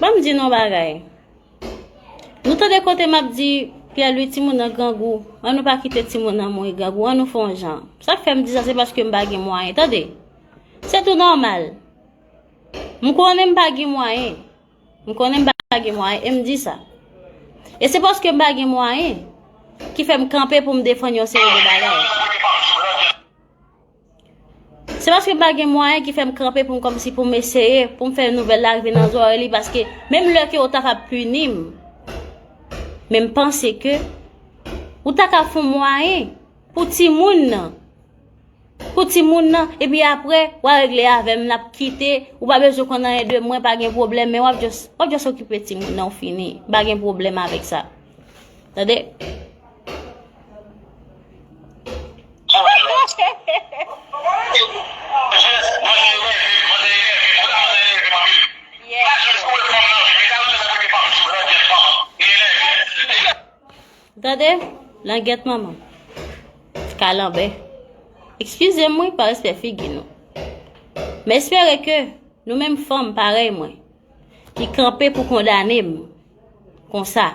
Banm di nou bagay. Nou tande kote map di Pierre Louis timoun nan grangou. An nou pa kite timoun nan mouri grangou. An nou fon jan. Sak fè m di sa se paske m pa gen mwayen. Tande. Se tou normal. M konnen m pa gen mwayen. M konnen m pa gen mwayen. E m di sa. E se paske m pa gen mwayen. Ki fè m kanpe pou m defann yon seri de bagay. Se paske m pa gen mwayen ki fèm kanpe pou m kòmsi pou m eseye, pou m fè nouvèl la rive nan zòrèy li paske menm lè ke ou ta ka pini m, men m panse ke ou ta ka fon mwayen pou ti moun nan, pou ti moun nan, epi apre w a regle avèm n ap kite, ou pa bezwen konn anyen de mwen, pa gen pwoblèm, men w ap jòs, w ap jòs okipe ti moun nan ou fini, m pa gen pwoblèm avèk sa. Tande? Gade, langèt manman. Kalanbè. Ekskize mwen pa respè figi nou. Mè espere ke nou menm fanm parèy mwen ki kanpe pou kondane m Konsa.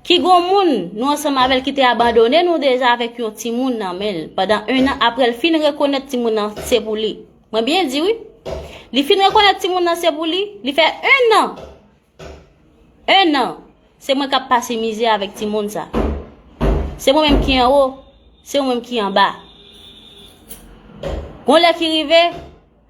Ki gon moun nou ansanm avèl ki te abandone nou deja avèk yon ti moun nan menl. Padan 1 an aprèl fin rekonèt ti moun nan se pou li. Mwen byen di wi. Li fin rekonèt ti moun nan se pou li, li fè 1 an. 1 an. Se mwen kap pase mizè avèk ti moun sa. Se mwen menm ki an wo, se mwen menm ki an ba. Gon lè ki rive.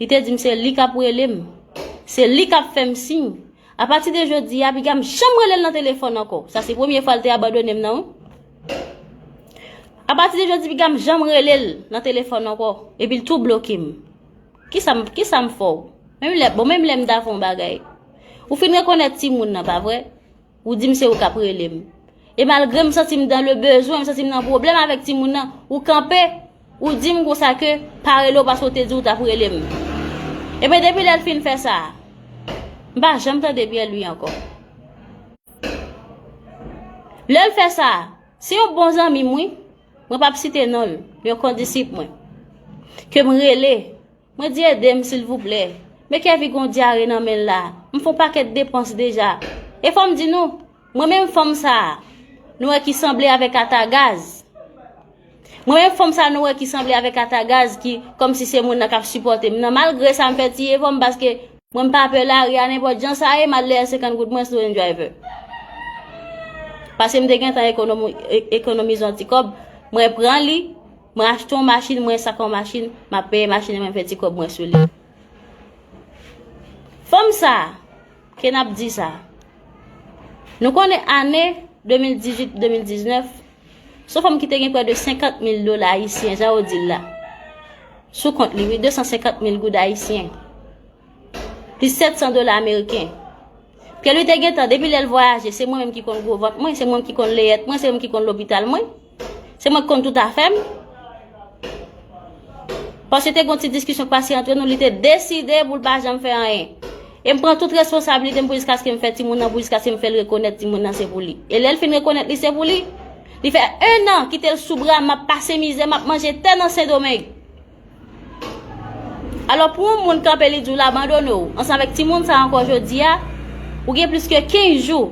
Li te di m se li k ap rele m. Se li k ap fè m siy. Apati de jodi a, piga m janm rele l nan telefòn ankò. Sa se premye fwa l te abandone m nan wi. Apati de jodi piga m janm rele l nan telefòn ankò. Epi l tou bloke m. Kisa m fè w? Bon menm lè m ta fè yon bagay. Ou fin rekonèt timoun nan, pa vre? Ou di m se ou k ap rele m. E malgre m santi m dan le bezwen, m santi m nan pwoblèm avèk timoun nan, ou kanpe, ou di m konsa ke pa rele w paske w te di w t ap rele m. Ebyen depi lè l fin fè sa, m pa janm tande pyè l ui ankò. Lè l fè sa, se yon bon zanmi m wi, mwen p ap site non l, yon kondisip mwen, ke m rele. Mwen di edem silvouplè. Me kevy gon dyare nan menl la m fon paket depans deja e fom di nou mwen menm fanm sa nou wè ki sanble avek ata gaz mwen menm fanm sa nou wè ki sanble avek ata gaz ki kom si se moun nan kap sipotem nan malgre sa m fè ti efom paske mwen m pa pè lari a nenpot jan sa ye mal lè 50 goud mwen sou en driver paske m te gentan ekonomi ekonomize yon ti kob mwen pran li Mwen achte yon machin, mwen sak yon machin, map peye machin nan mwen fè ti kòb mwen sou li. Fanm sa, ke nap di sa. Nou konnen ane 2018, 2019, son fanm ki te gen prè de 50 mil dola ayisyen, jan yo dil la. Sou kont li, 250 mil goud ayisyen. Pi 700 dola ameriken. Pye li te gen tan, depi lèl vwayaje, se mwen menm ki kon gwo vant mwen, se mwen ki kon leyèt mwen, se mwen ki kon lopital mwen. Se mwen k konn tout afè m. Paske te gon ti diskisyon k pase antre nou, li te deside pou l pa janm fè anyen. E m pran tout responsabilite m pou jiskaske m fè timoun nan, pou jiskaske m fè l rekonèt timoun nan se pou li. E lè l fin rekonèt li se pou li, li fè 1 an kite l sou bra m, m ap pase mizè, m ap manje tè nan Sendomeng. Alò pou yon moun kanpe li di ou l abandone w, ansanm avèk ti moun sa ankò jodi a, ou gen plis ke 15 jou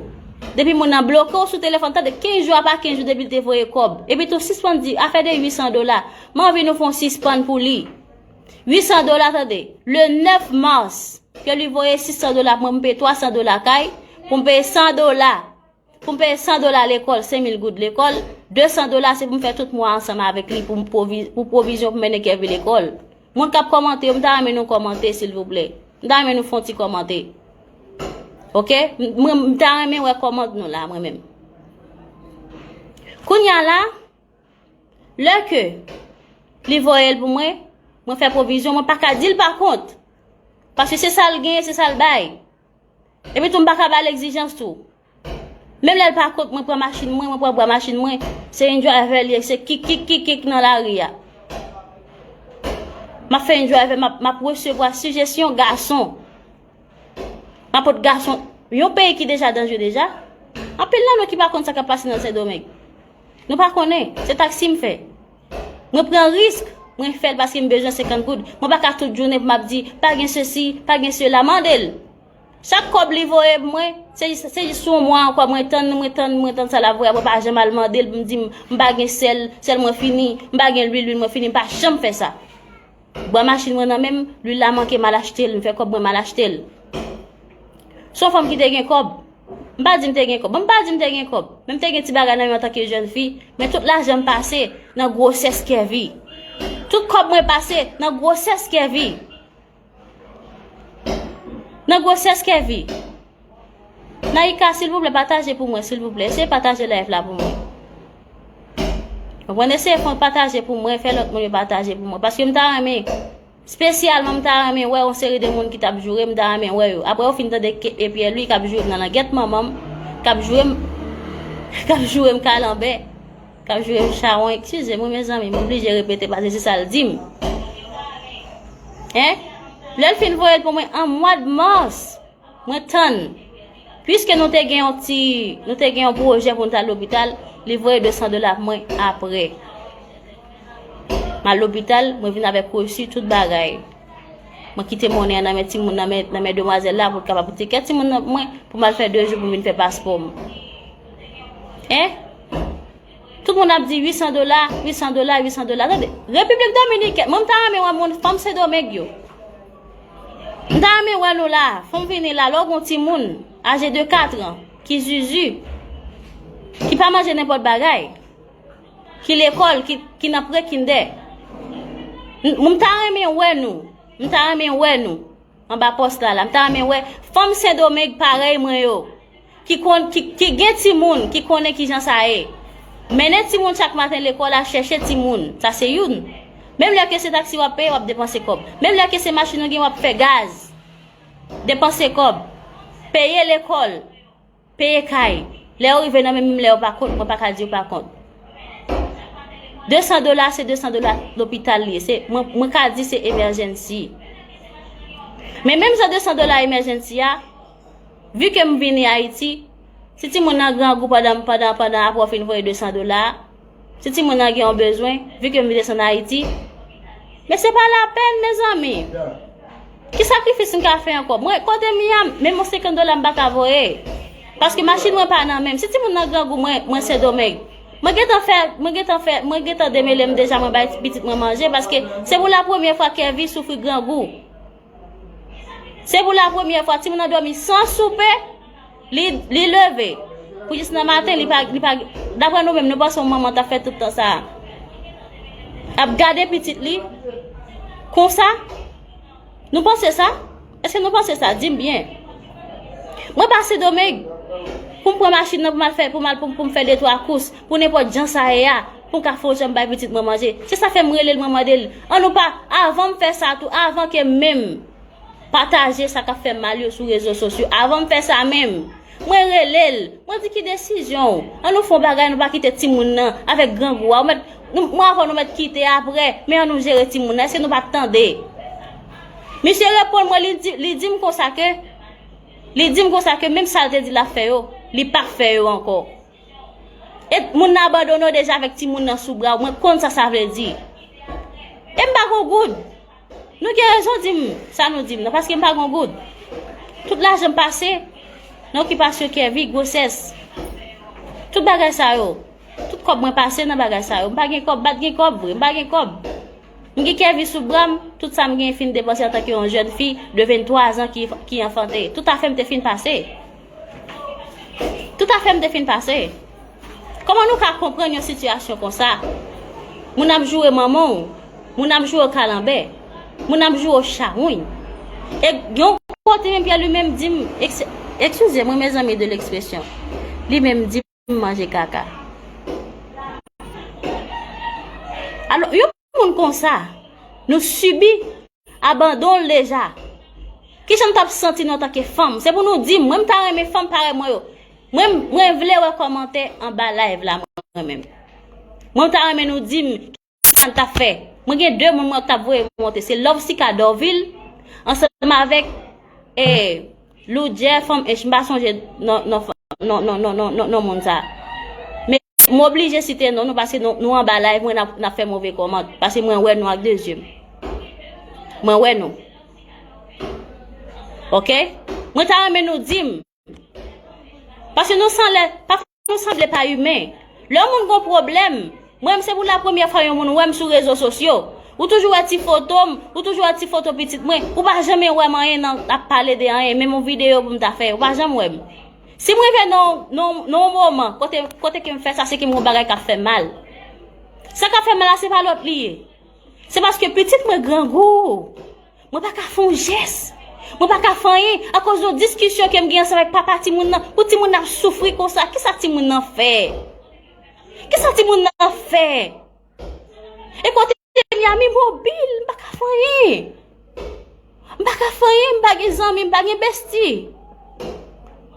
depi moun nan bloke w sou telefòn, tande 15 jou apa 15 jou depi l te voye kòb. Epi tou sispann di afè de 800 dola, m anvi nou fè yon sispann pou li. 800 dola tande, le 9 mars ke li voye 600 dola pou mwen pou m peye 300 dola kay, pou m peye 100 dola Pou m peye 100 dola lekòl, 5000 goud lekòl, 200 dola se pou m fè tout mwa ansanm avèk li pou pwovizyon pou mennen Kevin lekòl. Moun k ap kòmante yo, m ta renmen nou kòmante silvouplè. M ta renmen nou fè yon ti kòmante. Ok? M ta renmen wè kòmant nou la mwen menm. Kounya la, lè ke li voye l pou mwen, mwen fè pwovizyon, mwen pa ka di l pa kont. Paske se sa l genyen, se sa l bay. Epi tou m pa ka ba l egzijans tou. Menm lè l pa kont mwen pran machin mwen, mwen pran bwa machin mwen, se yon driver li, se kik kik kik kik nan lari a. M ap fè yon driver, m ap resevwa sijesyon gason. M ap pot gason, yon peyi ki deja danje deja, anpil nan nou ki pa kont sa k ap pase nan Sendomeng. Nou pa konnen, se taksi m fè. Mwen pran risk, mwen fè l paske m bezwen 50 goud. Mwen pa ka tout jounen pou m ap di pa gen sesi, pa gen sela. Mande l! Chak kòb li voye m mwen, se jis yon mwa ankò mwen tann, mwen tann, mwen tann sa l ap voye a. Mwen pa janm al mande l pou m di m pa gen sèl, sèl mwen fini, m pa gen lwil, lwil mwen fini. M pa janm fè sa. Bwa machin mwen nan menm, lwil la manke mal achte l, m fè kòb mwen mal achte l. S on fanm ki te gen kòb. M pa di m te gen kòb. Bon, m pa di m te gen kòb. Men m te gen ti bagay nan men antanke jèn fi. Men tout lajan m pase nan gwosès Kèvi. Tout kòb mwen pase nan gwosès Kèvi. Nan gwosès Kèvi. Naïka silvouplè pataje pou mwen silvouplè Eseye pataje live la pou mwen Mwen eseye fon pataje pou mwen Fè lòt moun yo pataje pou mwen Paske m ta reme Spesyalman m ta reme wè yon seri de moun ki tap joure m ta reme wè yo Apre ou fin tande e piè lwi kap joure m nan langèt manman m Kap joure m Kap joure m kalanbè Kap joure m chawony Eskize m wi mezanmi m oblije repete paske se sa l di m Hein Lè l fin voye l pou mwen an mwad mars Mwen tann. Puiske nou te gen yon ti, nou te gen yon pwojè pou nou ta lopital, li voye 200 dola pou mwen apre. Mal lopital, mwen vin avèk resu tout bagay. Mwen kite monnen nan men timoun nan men nan men demwazèl la pou kapab pou tikèt timoun nan mwen pou mal fè 2 jou pou vin fè paspò m. Eh? Tout moun ap di 800 dola, 800 dola, 800 dola. Tande, Repiblik Dominikèn, mwen m ta renmen wè moun fanm Sendomeng yo. M ta renmen wè nou la. Fon vini la lò gon timoun aje de 4 an ki zuzu ki pa manje nenpòt bagay ki lekòl ki nan pre kindè m ta renmen wè nou m ta renmen wè nou anba pòs la la m ta renmen wè fanm sendomeng parèy mwen yo. Ki konn, ki gen timoun, ki konnen ki jan sa ye. Mennen timoun chak maten lekòl a chèche timoun, sa se youn. Menm lè ke se taksi w ap peye, w ap depanse kòb. Menm lè ke se machin ou gen w ap fè gaz, depanse kòb. Peye lekòl, peye kay. Lè yo rive nan men menm lè yo pa kont, mwen pa ka di yo pa kont. Desan dola se desan dola lopital li ye. Se, mwen, mwen ka di se emèjensi. Men menm jan desan dola emèjensi a. Vu ke m vini Ayiti, si timoun nan grangou pandan pandan pandan apre w fin voye 200 dola a, si timoun nan gen yon bezwen, vu ke m vin desann Ayiti, men se pa lapèn mezanmi! Ki sakrifis m ka fè ankò? Mwen kote m ye a, menm yon 50 dola m pa ka voye, paske machin mwen pa nan men m. Si timoun nan grangou mwen mwen Sendomeng, mwen gentan fè mwen gentan fè mwen gentan demele m deja mwen bay pitit mwen manje paske se pou lapremye fwa Kevy soufri grangou. Se pou la premyè fwa timoun nan dòmi san soupe, li, li leve. Pou jis nan maten, li pa, li pa, dapre nou menm, nou panse yon manman ta fè tout tan sa a. Ap gade pitit li, konsa, nou panse sa? Eske nou panse sa? Dim byen. Mwen pa Sendomeng, pou m pran machin nan pou m al fè, pou m al pou m fè detwa kous, pou nenpòt jan sa ye a. Pou ka fon janm bay pitit mwen manje. Se sa fè m rele l mwen mande l an nou pa avan m fè sa tou avan ke menm pataje sa k ap fè mal yo sou rezo sosyo avan m fè sa menm mwen rele l mwen di ki desizyon w an nou fon bagay nou pa kite timoun nan avèk grangou a ou mèt nou mwen avè w nou mèt kite aprè men an nou jere timoun nan èske nou pa tande misye reponn mwen li di li di m konsa ke li di m konsa ke menm sa l te di l ap fè yo li pa fè yo ankò. E moun nan abandone w deja avèk timoun nan sou bra w, mwen konn sa sa vle di. E m pa gon goud. Nou gen rezon di m sa nou di m nan, paske m pa gon goud. Tout lajan m pase nan okipasyon Kèvi, gwosès, tout bagay sa yo. Tout kòb mwen pase nan bagay sa yo. M pa gen kòb, m pa t gen kòb vre, m pa gen kòb. M gen Kèvi sou bra m, tout sa m gen fin depanse antanke yon jèn fi de 23 zan ki anfante. Tout afè m te fin pase. Tout afè m te fin pase. Koman nou ka konprann yon sitiyasyon konsa? Moun ap joure manman w, moun ap joure w kalanbè, moun ap joure w chawony. E yon kote menm Pyè li menm di m, ekskize mwen mezanmi de lekspresyon, li menm di m. moun manje kaka. Alo, yon moun konsa, nou sibi abandon l deja. Ki jan nou tap santi nou antanke fanm? Se pou nou di m, mwen m ta renmen fanm parèy mwen yo. Mwen, mwen vle wè kòmantè anba live la mwen menm. Mwen m ta renmen nou di m. sa n tap fè. Mwen gen 2 moun mwen tap voye monte se Lovesica Dorvil ansanm avèk e Loudjè fanm ench m pa sonje non moun sa. Men m oblije site non nou pase nou anba live mwen nap fè move kòmant pase mwen wè nou ak 2 zye m. Mwen wè nou. Ok mwen ta renmen nou di m. Paske nou san lè, pafwa nou sanble pa imen. Lè yon moun gon pwoblèm, mwen menm se pou la premyè fwa yon moun wè m sou rezo sosyo. Ou toujou wè ti foto m, ou toujou wè ti foto pitit mwen, ou pa janmen wè m anyen nan ap pale de anyen, menm yon videyo pou m ta fè, ou pa janm wè m. Si m rive nan yon moman kote ke m fè sa se ke m gon bagay k ap fè m mal. Sa k ap fè m mal la se pa lòt li ye. Se paske pitit mwen grangou. Mwen pa ka fè yon jès. Mwen pa ka fè anyen akoz yon diskisyon ke m gen ansanm ak papa timoun nan. Pou timoun nan ap soufri konsa, kisa timoun nan fè? Kisa timoun nan fè? E kote m ye a m imobil, m pa ka fè anyen. M pa ka fè anyen, m pa gen zanmi, m pa gen besti.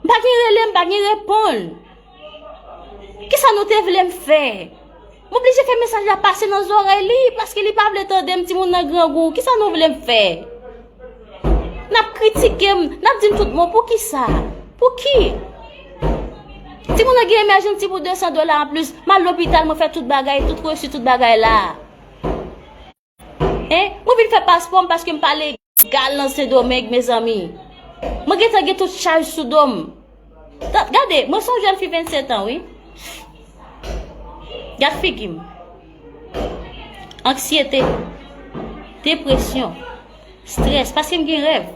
M pa gen rele, m pa gen reponn. Ki sa nou te vle m fè? M oblije fè mesaj la pase nan zorèy li, paske li pa vle tande m ti moun nan grangou. Ki sa nou vle m fè? N ap kritike m, n ap di m tout mo, pou ki sa? Pou ki? Ti moun nan gen emèjanti pou 200 dola an plis, m al lopital, mwen fè tout bagay, tout resi, tout bagay la. Hein? Mwen vin fè paspò m paske m pa legal nan Sendomeng mezanmi. Mwen gentan gen tout chaj sou do m. Gade, mwen son jèn fi 27 an wi. Gad figi m. Anksyete, depresyon, strès paske m gen rèv.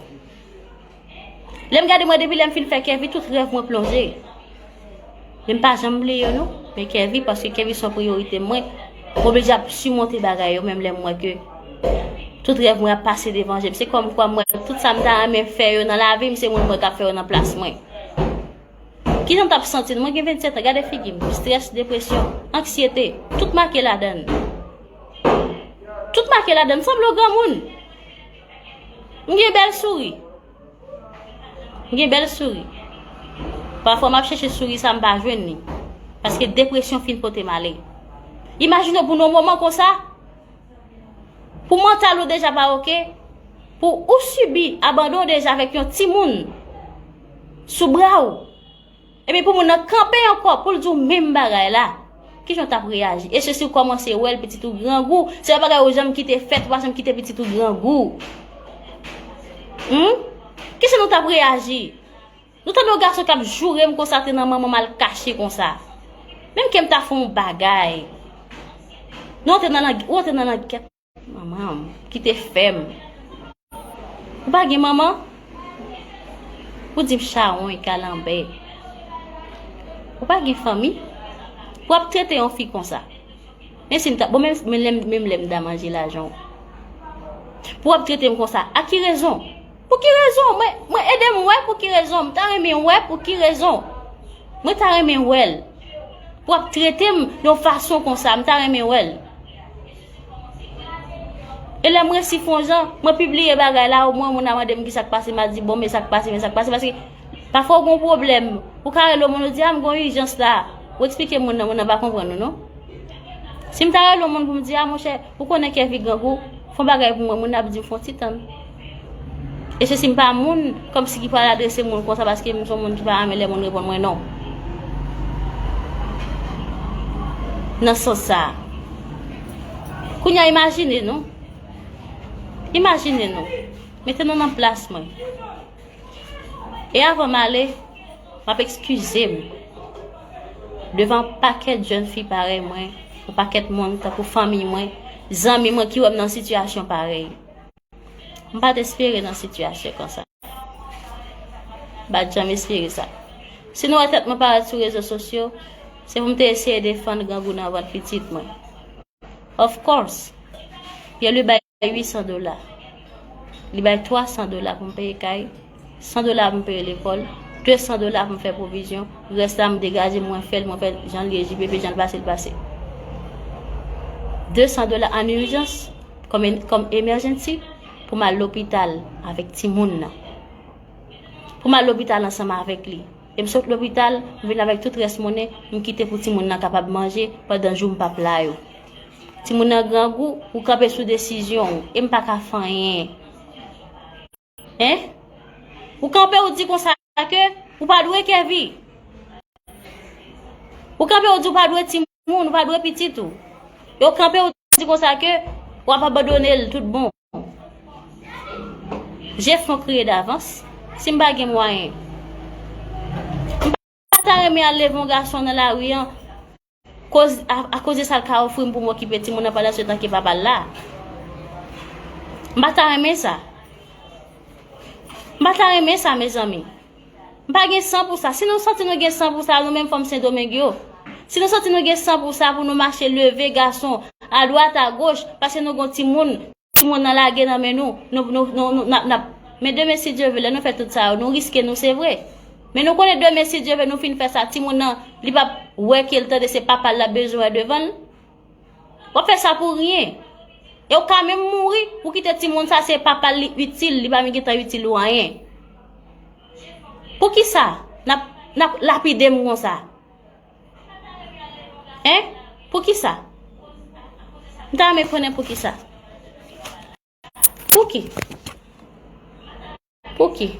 Lèm gade mwen depi lèm fin fè kèvi tout rèv mwen plonje. Lèm pa janm bli yo nou, men kèvi paske kèvi son priyorite mwen. Mwen bli jap su monte bagay yo menm lèm mwen ke. Tout rèv mwen ap pase devan jem. Se kòm kwa mwen tout sa mta ame fè yo nan lavi mse mwen mwen kap fè yo nan plas mwen. Ki jan tap santi mwen gen 27 an gade figi mwen. Stress, depresyon, anksyete, tout make ladan. Tout make ladan, sanble yon gran moun. M gen bèl souri. M gen bèl souri. Pafwa m ap chèche souri sa m pa jwenn li. Paske depresyon fin pote m ale. Imajine w pou nan yon moman konsa, pou mantal ou deja pa oke, pou ou sibi abandon deja avèk yon timoun sou bra ou. Epi pou moun nan kanpe ankò poul di w menm bagay la, kijan w tap reyaji? E se si w kòmanse wè l pitit ou grangou, se yon bagay ou janm kite fèt, ou pa janm kite pitit ou grangou. Humm! Kijan nou tap reyaji? Nou tande yon gason kap joure m konsa te nan manman m al kache konsa. Menm ke m ta fè yon bagay. Nou antre nan lang, ou antre nan langèt. Manman m ki te fè m. Ou pa gen manman? Ou di m chawony, kalanbè. Ou pa gen fanmi? Pou ap trete yon fi konsa. Men si m ta, bon men menm lè m ta manje lajan w. Pou ap trete m konsa, a ki rezon? Pou ki rezon? Mwen ede m wè pou ki rezon. M ta renmen wè pou ki rezon. Mwen ta renmen wè l. Pou ap trete m yon fason konsa, m ta renmen wè l. E lè m resi fon jan, mwen pibliye bagay la, o mwen moun nan mande m ki sa k pase, m a di bon men sa k pase, men sa k pase, paske pafwa ou gon pwoblèm, ou ka rele yon moun ou di a m gon ijans la, ou eksplike moun nan, moun nan pa konprann ou non. Si m ta rele yon moun pou m di a monchè, ou konnen kè fi grangou, fon bagay pou mwen, moun nan ap di m fon ti tann. E se si m pa moun, kòmsi ki pral adrese moun konsa paske m son moun ki pa renmen lè moun reponn mwen non. Nan sans sa. Kounye a imajine nou. Imajine nou. Mete nou nan plas mwen. E avan m ale, m ap ekskize m. Devan pakèt jèn fi parèy mwen, yon pakèt moun tankou fanmiy mwen, zanmi mwen ki wè m nan sitiyasyon parèy. M pa t espere nan sitiyasyon konsa. M pa t janm espere sa. Si nou wè tèt mwen parèt sou rezo sosyo, se pou m te eseye defann grangou nan vant pitit mwen. Of course! Pierre-Louis bay 800 dola. Li bay 300 dola pou m peye kay. 100 dola pou m peye lekòl, 200 dola pou m fè pwovizyon, rès la m degaje mwen fè l mwen fè jan l ye JPP jan l pase l pase. 200 dola an urjans kòm emergency pou m al lopital avèk timoun nan. Pou m al lopital ansanm avèk li. E m sot lopital, m vin avèk tout rès monnen m kite pou timoun nan kapab manje pandan jou m pap la yo. Timoun nan grangou, ou kanpe sou desizyon ou e m pa ka fè anyen. Hein? Ou kanpe ou di konsa ke ou pa dwe Kevy. Ou kanpe ou di ou pa dwe ti moun, ou pa dwe pitit ou. E ou kanpe ou di konsa ke ou ap abandone l tout bon. Je fon kriye davans. Si m pa gen mwayen. Mpa ta renmen al leve yon gason nan lari an koz a koz de sal ka ofrim pou m okipe timoun nan pandan setan ke papal la. Mpa ta renmen sa. Mpa ta renmen sa mezanmi. Mpa gen san pou sa. Si nou santi nou gen san pou sa nou menm fanm sendomeng yo. Si nou santi nou gen san pou sa pou nou mache leve gason adwat agoch paske nou gon timoun. Timoun nan lage nan men nou, nou, nou, nou, nou, nap, nap. Men demen si Dye ve, lè nou fè tout sa yo, nou riske nou, se vre. Men nou konnen demen si Dye ve nou fin fè sa, timoun nan, li pap wè ke l tande se papa l lap bezwen wè devan l. Wap fè sa pou ryen. E ou ka menm mouri, ou kite timoun sa se papa l li itil, li pa menm gentan itil ou anyen. Poukisa nap, nap lapide m konsa? Hein? Poukisa? M ta renmen konnen poukisa. Pouki? Pouki?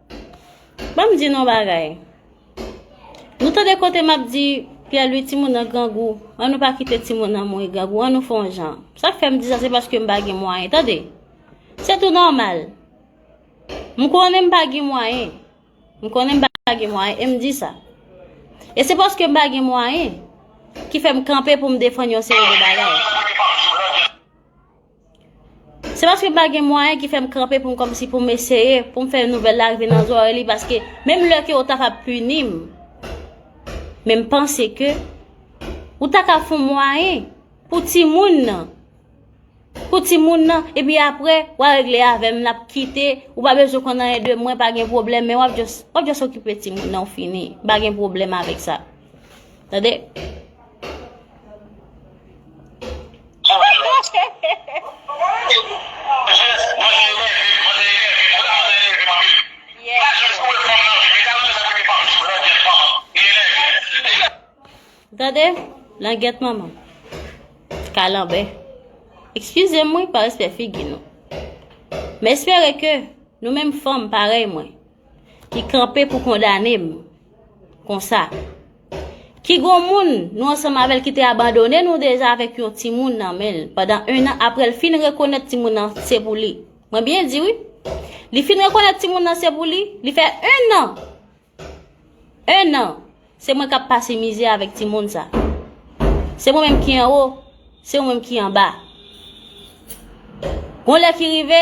Banm di nou bagay. Nou tande kote map di Pierre Louis timoun nan grangou. An nou pa kite timoun nan mouri grangou. An nou fon jan. Sak fèm di sa se paske m pa gen mwayen. Tande. Se tou normal. M konnen m pa gen mwayen. M konnen m pa gen mwayen. E m di sa. E se paske m pa gen mwayen. Ki fèm kanpe pou m defann yon seri de bagay. Se paske m pa gen mwayen ki fè m kanpe pou m kòmsi pou m eseye, pou m fè nouvèl la rive nan zòrèy li, paske menm lè ke ou ta ka pini m, men m panse ke ou ta ka fon mwayen pou ti moun nan, pou ti moun nan, epi apre, w a regle avè m, n ap kite, ou pa bezwen konn anyen de mwen, pa gen pwoblèm, men w ap jòs, w ap jòs okipe ti moun nan, ou fini, m pa gen pwoblèm avèk sa. Tande. Tande. Langyèt manman. Kalanbè. Ekskize mwen pa respè figi nou. Mè espere ke nou menm fanm parey mwen ki kanpe pou kondane mwen. Konsa. Ki gon moun nou ansanm avèl ki te abandone nou deja avèk yon ti moun nan menl. Padan 1 an aprèl fin rekonèt ti moun nan se pou li. Mwen byen di wi. Li fin rekonèt ti moun nan se pou li. Li fè 1 an. 1 an. Se mwen kap pase mizè avèk ti moun sa. Se mwen menm ki anwo. Se mwen menm ki anba. Gon lè ki rive.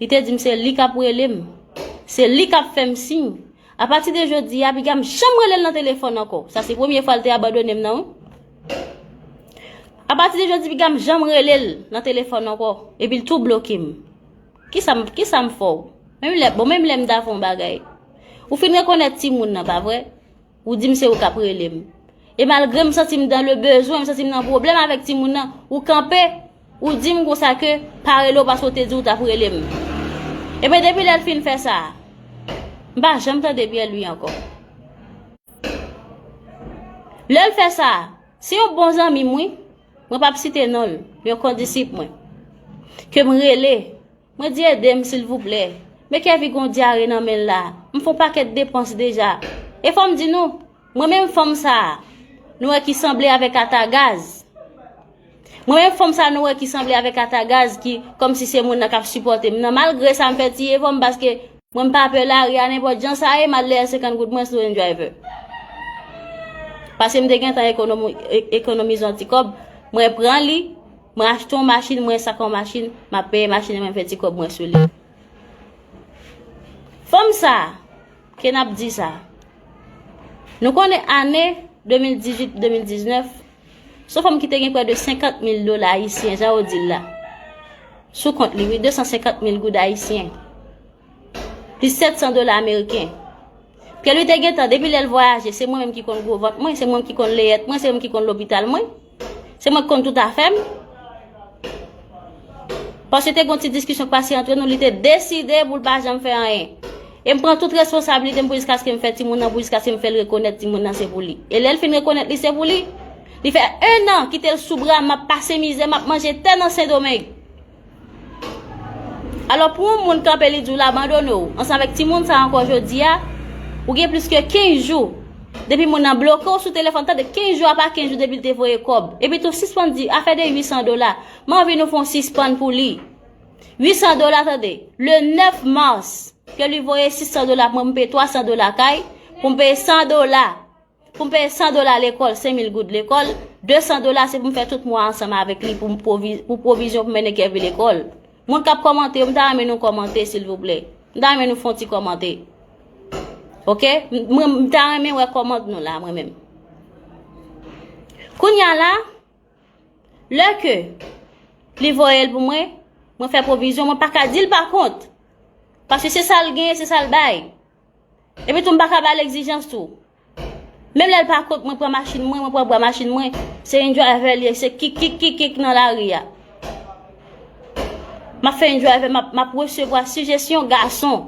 Li te di m se li k ap rele m. Se li k ap fè m siy. Apati de jodi a, piga m janm rele l nan telefòn ankò. Sa se premye fwa l te abandone m nan wi. Apati de jodi, piga m janm rele l nan telefòn ankò. Epi l tou bloke m. Kisa m fè w? Bon, menm lè m ta fè yon bagay. Ou fin rekonèt timoun nan, pa vre? Ou di m se ou k ap rele m. E malgre m santi m dan le bezwen, m santi m nan pwoblèm avèk timoun nan, ou kanpe, ou di m konsa ke pa rele w paske w te di w t ap rele m. Ebyen depi lè l fin fè sa, m pa janm tande Pyèlwi ankò. Lè l fè sa, se yon bon zanmi m wi, mwen p ap site non l, yon kondisip mwen, ke m rele. Mwen di edem silvouplè. Me kevy gon dyare nan menl la m fon paket depans deja e fom di nou mwen menm fanm sa nou wè ki sanble avek ata gaz mwen menm fanm sa nou wè ki sanble avek ata gaz ki komsi se moun nan kap sipotem nan malgre sa m fè ti efom paske mwen m pa pè lari a nenpot jan sa ye mal lè 50 goud mwen sou en driver paske m te gentan ekonomi ekonomize yon ti kob mwen pran li. Mwen achte yon machin, mwen ensak yon machin, m ap peye machin nan mwen fè ti kòb mwen sou li. Fanm sa a, ke n ap di sa a, nou konnen ane 2018, 2019, se yon fanm ki te gen prè de 50 mil dola ayisyen, jan yo di l la, sou kont li, wi, 250 mil goud ayisyen, plis 700 dola ameriken. Pyèlwi te gen tan, depi lè l vwayaje, se mwen menm ki konn gwo vant mwen, se mwen menm ki konn leyèt mwen, se mwen menm ki konn lopital mwen. Se mwen k konn tout afè m. Paske te gon ti diskisyon k pase antre nou, li te deside pou l pa janm fè anyen. E m pran tout responsabilite m pou jiskaske m fè timoun nan, pou jiskaske m fè l rekonèt timoun nan se pou li. E lè l fin rekonèt li se pou li, li fè 1 an kite l sou bra m, m ap pase mizè, m ap manje tè nan Sendomeng. Alò pou yon moun kanpe li di w l abandone w ansanm avèk ti moun sa ankò jodi a, ou gen plis ke 15 jou depi moun nan bloke w sou telefòn, tande 15 jou apa 15 jou depi l te voye kòb. Epi tou sispann di afè de 800 dola, m anvi nou fè yon sispann pou li. 800 dola tande, le 9 mars ke li voye 600 dola pou mwen pou m peye 300 dola kay, pou m peye 100 dola. Pou m peye 100 dola lekòl, 5000 goud lekòl, 200 dola se pou m fè tout mwa ansanm avèk li pou pwovizyon pou mennen Kevin lekòl. Moun k ap kòmante yo, m ta renmen nou kòmante silvouplè. M ta renmen nou fè yon ti kòmante. Ok? M ta renmen wè kòmant nou la mwen menm. Kounya la, lè ke li voye l pou mwen, mwen fè pwovizyon, mwen pa ka di l pa kont. Paske se sa l gen, se sa l bay. Epi tou m pa ka ba l egzijans tou. Menm lè l pa kont mwen pran machin mwen, mwen pran bwa machin mwen, se yon driver li ye, se kik kik kik kik nan lari a. M ap fè yon driver, m ap resevwa sijesyon gason.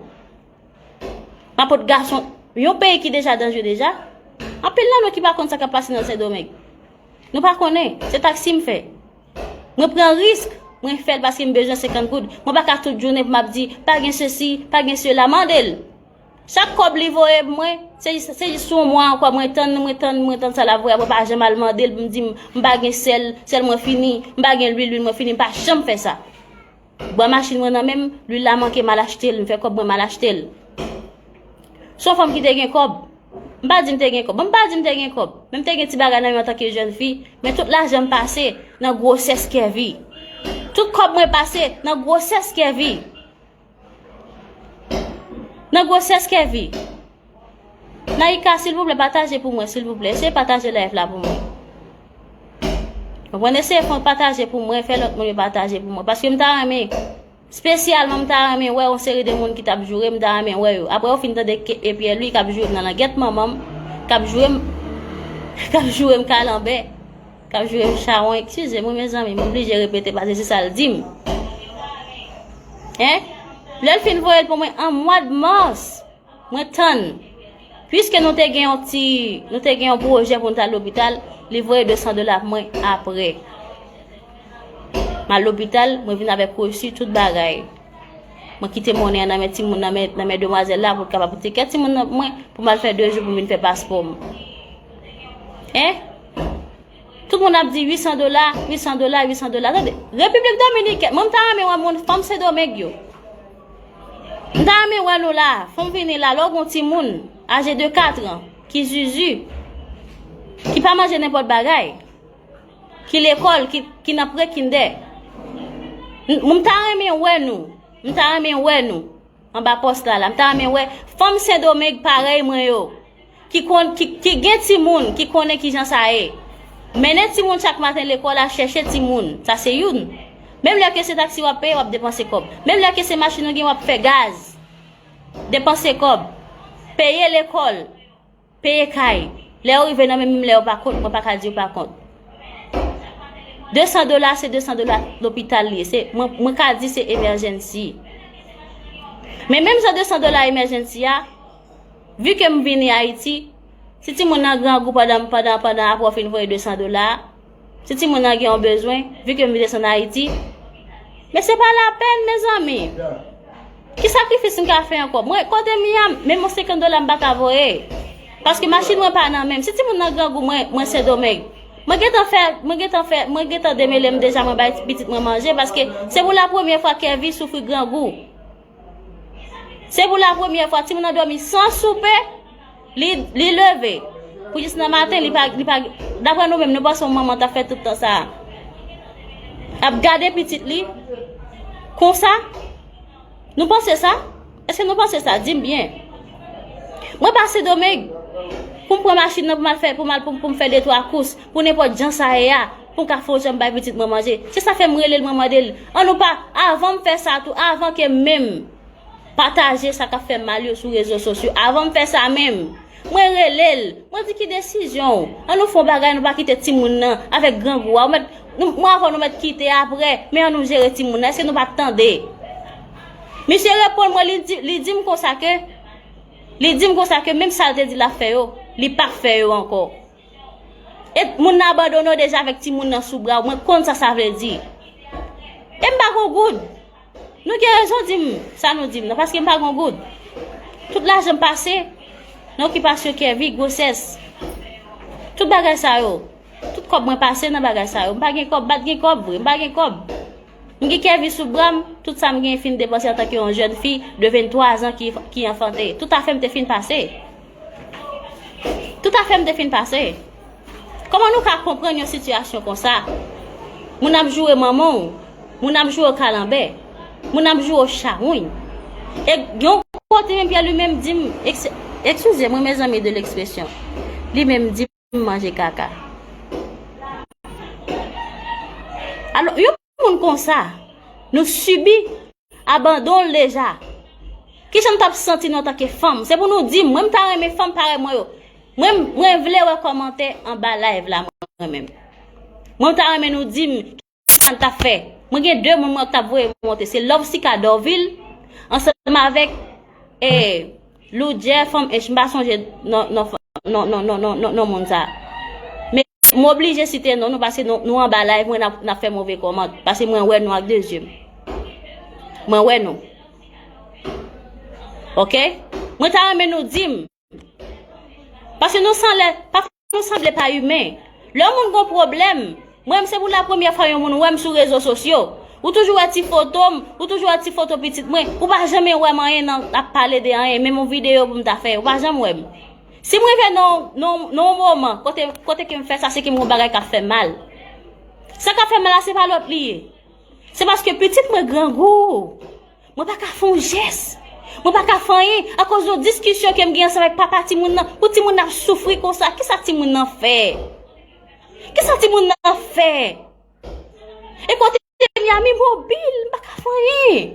M ap pot gason, yon peyi ki deja danje deja, anpil nan nou ki pa kont sa k ap pase nan Sendomeng. Nou pa konnen, se taksi m fè. Mwen pran risk, mwen fè l paske m bezwen 50 goud. Mwen pa ka tout jounen pou m ap di pa gen sesi, pa gen sela. Mande l! Chak kòb li voye m mwen, se jis yon mwa ankò mwen tann, mwen tann, mwen tann sa l ap voye a. Mwen pa janm al mande l pou m di m pa gen sèl, sèl mwen fini, m pa gen lwil, lwil mwen fini. M pa janm fè sa. Bwa machin mwen nan menm, lwil la manke mal achte l, m fè kòb mwen mal achte l. S on fanm ki te gen kòb. M pa di m te gen kòb. Bon, m pa di m te gen kòb, men m te gen ti bagay nan men antanke jèn fi, men tout lajan m pase nan gwosès Kèvi. Tout kòb mwen pase nan gwosès Kèvi. Nan gwosès Kèvi. Naïka silvouplè pataje pou mwen silvouplè eseye pataje live la pou mwen Mwen pwene se fon pataje pou mwen, fè lòt moun yo pataje pou mwen. Paske m ta renmen, spesyalman m ta renmen wè yon seri de moun ki tap joure, m ta renmen wè yo. Apre ou fin tande ke epye li kap joure m nan langèt manman m, kap joure m, kap joure m kalanbè, kap joure m chawon, eksize mwen mezanmi, m oblije repete paske se sal di m. Hein? Lè l fin voye l pou mwen an mwa de mars, Mwen tann. Puiske nou te gen yon ti, nou te gen yon pwojè pou nou ta lopital, li voye 200 dola pou mwen apre. Mal lopital, mwen vin avèk reçu tout bagay. Mwen kite monnen an nan men timoun nan men nan men demwazèl la pou kapab ti kè timoun nan mwen pou mal fè 2 jou pou vin fè paspò m. Hein? Tout moun ap di 800 dola, 800 dola, 800 dola. Tande, Republik Dominikèn, mwen ta renmen wè moun fanm Sendomeng yo. M ta renmen wè nou la. Fon vini la lè w gon timoun aje de 4 an ki zuzu, ki pa manje nenpòt bagay, ki lekòl, ki nan prekindè. M ta renmen wè nou. M ta renmen wè nou anba pòs la la. M ta renmen wè fanm Sendomeng parèy mwen yo. Ki gen timoun, ki konnen ki jan sa ye. Mennen timoun chak maten lekòl a chèche timoun. Sa se youn. Menm lè ke se taksi w ap peye, w ap depanse kòb. Menm lè ke se machin ou gen, w ap fè gaz. Depanse kòb. Peye lekòl. Peye kay. Lè yo rive nan men m, menm lè yo pa kont, mwen pa ka di yo pa kont. Desan dola, se desan dola lopital li ye. Mwen ka di se emèjènsi. Men menm jan desan dola emèjènsi a, Vu ke m vini Ayiti, si timoun nan grangou pandan pandan pandan apre w fin voye 200 dola a, si timoun nan gen yon bezwen, vu ke m vin desann Ayiti, men se pa lapèn mezanmi! Ki sakrifis m ka fè ankò? Mwen kote m ye a, menm yon 50 dola m pa ka voye, paske machin mwen pa nan men m. Si timoun nan grangou, mwen, mwen Sendomeng, mwen gen tan fè, mwen gen tan fè, mwen gen tan demele m deja mwen bay pitit mwen manje, paske se pou la premye fwa Kevy soufri grangou. Se pou la premye fwa timoun nan domi san soupe, li leve. Pou jis nan maten, li pa... Dapre nou menm, nou panse yon manman ta fè tout tan sa a. Ap gade pitit li, konsa. Nou panse sa? Eske nou panse sa? Di m byen. Mwen pa Sendomeng, pou m pran machin nan pou m al fè, pou m al pou m fè detwa kous, pou nenpòt jan sa ye a. Pou m ka fon jan bay pitit mwen manje. Se sa fè m rele l mwen mande l an nou pa avan m fè sa tou avan ke menm pataje sa k ap fè mal yo sou rezo sosyo avan m fè sa menm mwen rele l mwen di ki desizyon w an nou fon bagay nou pa kite timoun nan avèk grangou a ou mèt mwen avè w nou mèt kite aprè men an nou jere timoun nan èske nou pa tande misye reponn mwen li di li di m konsa ke li di m konsa ke menm sa l te di l ap fè yo li pa fè yo ankò. E moun nan abandone w deja avèk timoun nan sou bra w, mwen konn sa sa vle di. E m pa gon goud. Nou gen rezon di m sa nou di m nan, paske m pa gon goud. Tout lajan m pase nan okipasyon Kèvi, gwosès, tout bagay sa yo. Tout kòb mwen pase nan bagay sa yo. M pa gen kòb, m pa t gen kòb vre, m pa gen kòb. M gen Kèvi sou bra m, tout sa m gen fin depanse antanke yon jèn fi de 23 zan ki anfante. Tout afè m te fin pase. Tout afè m te fin pase. Koman nou ka konprann yon sitiyasyon konsa? Moun ap joure manman w, moun ap joure w kalanbè, moun ap joure w chawony. E yon kote menm Pyè li menm di m, ekskize mwen mezanmi de lekspresyon, li menm di m. moun manje kaka. Alo, yon moun konsa, nou sibi abandon l deja. Ki jan nou t ap santi nou antanke fanm? Se pou nou di m. Mwen m ta renmen fanm parèy mwen yo. Mwen vle wè kòmantè anba live la mwen menm. Mwen m ta renmen nou di m. se sa n tap fè. Mwen gen 2 moun mwen tap voye monte se Lovesica Dorvil ansanm avèk e Loudjè fanm ench m pa sonje non moun sa. Men m oblije site non nou pase nou anba live mwen nap fè move kòmant pase mwen wè nou ak 2 zye m. Mwen wè nou. Ok mwen ta renmen nou di m. Paske nou san lè, pafwa nou sanble pa imen. Lè yon moun gon pwoblèm, mwen menm se pou la premyè fwa yon moun wè m sou rezo sosyo. Ou toujou wè ti foto m, ou toujou wè ti foto pitit mwen, ou pa janmen wè m anyen nan ap pale de anyen, menm yon videyo pou m ta fè, ou pa janm wè m. Si m rive nan yon nan yon moman kote kote ke m fè sa se ke m gon bagay k ap fè m mal. Sa k ap fè m mal la se pa lòt li ye. Se paske pitit mwen grangou. Mwen pa ka fè yon jès. Mwen pa ka fè anyen akoz yon diskisyon ke m gen ansanm ak papa timoun nan. Pou timoun nan ap soufri konsa, ki sa timoun nan fè? Ki sa timoun nan fè? E kote m ye a mi mobil, m pa ka fè anyen.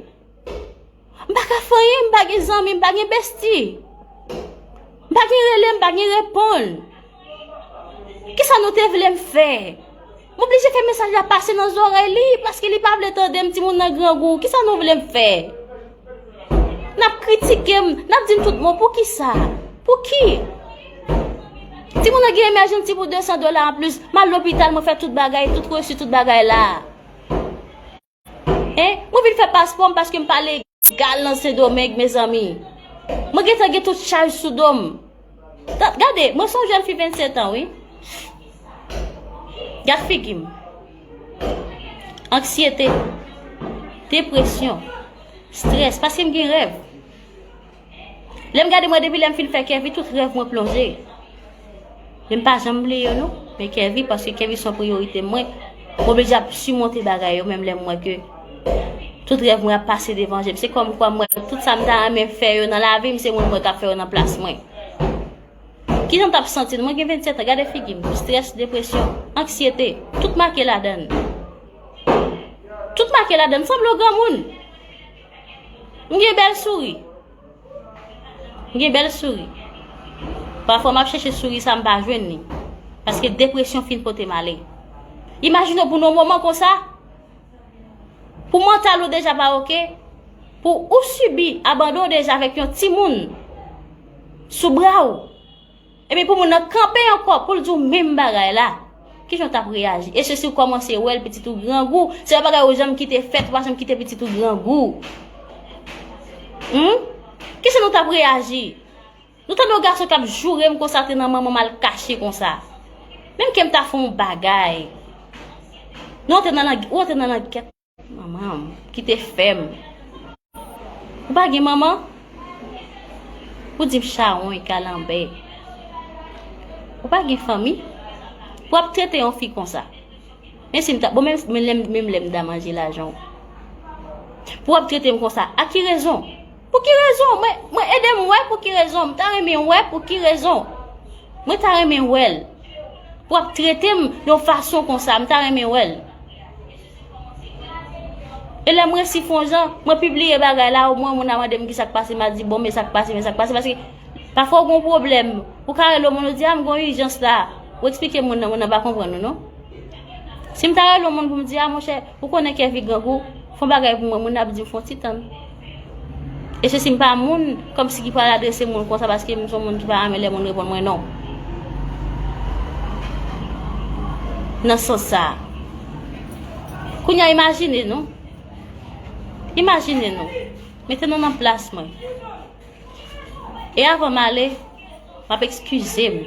M pa ka fè anyen, m pa gen zanmi, m pa gen besti. M pa gen rele, m pa gen reponn. Kisa nou te vle m fè? M oblije fè mesaj la pase nan zorèy li, paske li pa vle tande m, timoun nan grangou, kisa nou vle m fè? N ap kritike m, n ap di m tout mo, pou ki sa? Pou ki? Timoun nan gen emèjanti pou 200 dola an plis, m al lopital, mwen fè tout bagay, tout resi, tout bagay la. Hein? Mwen vin fè paspò m paske m pa legal nan Sendomeng mezanmi. Mwen gentan gen tout chaj sou do m. Gade, mwen son jèn fi 27 an wi. Gad figi m. Anksyete, depresyon, strès paske m gen rèv. Lem gade mwen depi lem fin fè kèvi tout rèv mwen plonje. Lem pa janm bliye yo nou, men kèvi paske kèvi son priyorite mwen. Mwen oblije ap simonte bagay yo menm lem mwen ke tout rèv mwen ap pase devan jem. Se kom kwa mwen tout sa m ta renmen fè yo nan lavi m se mwen mwen kap fè yo nan plas mwen. Ki jan tap santi nou? Mwen gen 27 an, gade figi m, stress, depresyon, anksyete, tout make ladan. Tout make ladan, m sanble yon granmoun. M gen bèl souri. M gen bèl souri. Pafwa m ap chèche souri sa m pa jwenn li. Paske depresyon fin pote m ale. Imajine w pou nan yon moman konsa, pou mantal ou deja pa oke, pou ou sibi abandon deja avèk yon timoun sou bra ou. Epi pou moun nan kanpe ankò poul di w menm bagay la, kijan w tap reyaji? E se si w kòmanse wè l pitit ou grangou, se yon bagay ou janm kite fèt, ou pa janm kite pitit ou grangou. Humm! Kijan nou tap reyaji? Nou tande yon gason kap joure m konsa te nan manman m al kache konsa. Menm ke m ta fè yon bagay. Nou antre nan lang, ou antre nan langèt. Manman m kite fè m. Ou pa gen manman? Ou di m chawony, kalanbè. Ou pa gen fanmi? Pou ap trete yon fi konsa. Men si m ta, bon men menm lè m ta manje lajan w. Pou ap trete m konsa, a ki rezon? Pou ki rezon? Mwen ede m wè pou ki rezon. M ta renmen wè pou ki rezon. Mwen ta renmen wè l. Pou ap trete m yon fason konsa, m ta renmen wè l. E lè m resi fon jan, mwen pibliye bagay la ou mwen moun a mande m ki sa k pase m a di bon men sa k pase men sa k pase paske pafò w gon pwoblèm ou ka rele yon moun ou di a m gon ijans la ou eksplike moun nan moun nan pa konprann ou non. Si m ta rele yon moun pou m di a monchè ou konnen Kevy grangou fon bagay pou mwen moun nan ap di m fon ti tann. E se si m pa moun, kòmsi ki pral adrese moun konsa paske m son moun ki pa renmen lè moun reponn mwen non. Nan sans sa. Kounye a imajine nou. Imajine nou. Mete nou nan plas mwen. E avan m ale, m ap ekskize m.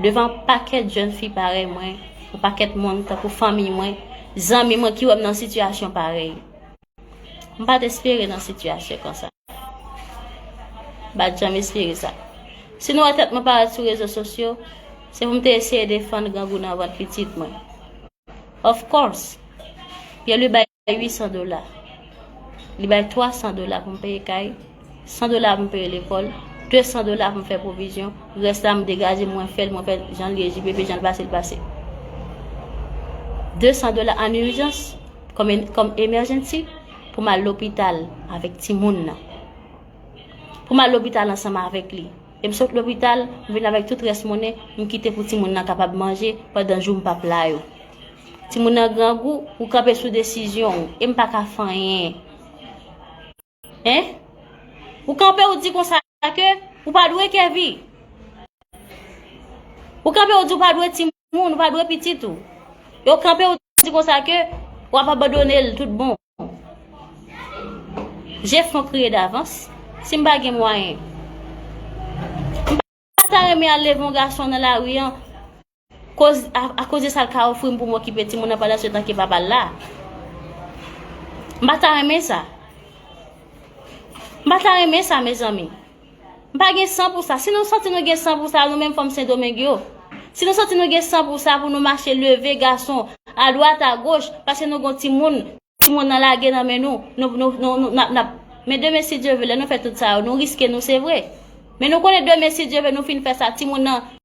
Devan pakèt jèn fi parèy mwen, yon pakèt moun tankou fanmiy mwen, zanmi mwen ki wè m nan sitiyasyon parèy. M pa t espere nan sitiyasyon konsa. M pa t janm espere sa. Si nou wè tèt mwen parèt sou rezo sosyo, se pou m te eseye defann grangou nan vant pitit mwen. Of course! Pyelwi bay 800 dola. Li bay 300 dola pou m peye kay. 100 dola pou m peye lekòl, 200 dola pou m fè pwovizyon, rès la m degaje mwen fè l mwen fè jan l ye JPP jan l pase l pase. 200 dola an urjans kòm emergency pou m al lopital avèk timoun nan. Pou m al lopital ansanm avèk li. E m sot lopital, m vin avèk tout rès monnen m kite pou timoun nan kapab manje pandan jou m pap la yo. Timoun nan grangou, ou kanpe sou desizyon ou e m pa ka fè anyen. Hein? Ou kanpe ou di konsa ke ou pa dwe Kevy. Ou kanpe ou di ou pa dwe ti moun, ou pa dwe pitit ou. E ou kanpe ou di konsa ke ou ap abandone l tout bon. Je fon kriye davans. Si m pa gen mwayen. Mpa ta renmen al leve yon gason nan lari an koz a koz de sa l ka ofri m pou m okipe timoun nan pandan se tan ke papa l la. Mpa ta renmen sa. Mpa ta renmen sa mezanmi. Mpa gen san pou sa. Si nou santi nou gen san pou sa nou menm fanm sendomeng yo. Si nou santi nou gen san pou sa pou nou mache leve gason adwat agoch paske nou gon timoun. Ti moun nan lage nan men nou, nou, nou, nou, nou, nap, nap. Men demen si Dye ve lè nou fè tout sa yo, nou riske nou se vre. Men nou konnen demen si Dye ve nou fin fè sa, ti moun nan.